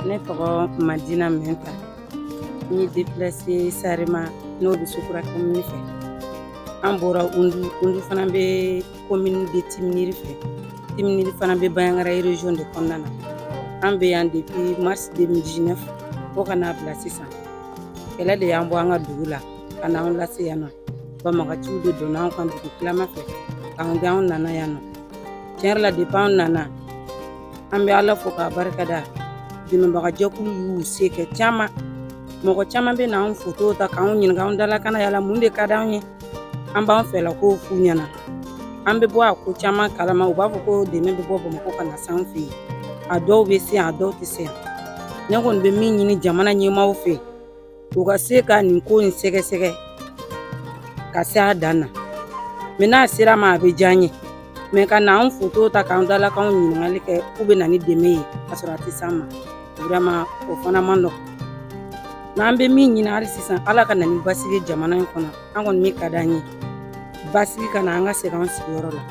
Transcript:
Ne tɔgɔ ma dina min ta n ye depsi sari ma n'o bɛ sukura ka min fɛ an bɔra olu fana bɛ ko min de te miiriri fɛ te fana bɛ bayankararezy de kɔnɔna na an bɛ yan de bi masi de bɛ diinɛ fɔ ka n'a bila sisan kɛlɛ de y'an bɔ an ka dugu la ka n'an lase yan nɔ banbaganciw de donna anw kan dugu tilama fɛ k'an gɛn anw nana yan nɔ tiɲɛ yɛrɛ la depuis anw nana an bɛ ala fo k'a barika da dɛmɛbagajɛkulu y'u se kɛ caman mɔgɔ caman bɛ na anw fotow ta k'anw ɲininka anw dalakana yala mun de ka d'anw ye an b'an fɛla ko f'u ɲɛna an bɛ bɔ a ko caman kalama u b'a fɔ ko dɛmɛ bɛ bɔ bamakɔ ka na san fɛ yen a dɔw bɛ se yan a dɔw tɛ se yan ne kɔni bɛ min ɲini jamana ɲɛmaaw fɛ u ka se ka nin ko in sɛgɛsɛgɛ ka se a dan na mais n'a sera ma a bɛ diya n ye mais ka na an foto ta k'an dalakanw ɲininkali kɛ k'u bɛ na ni dɛmɛ ye k'a sɔrɔ a tɛ s'an ma vraiment o fana man nɔgɔn n'an bɛ min ɲini hali sisan ala ka na ni basigi jamana in kɔnɔ an kɔni min ka d'an ye basigi ka na an ka segin an sigiyɔrɔ la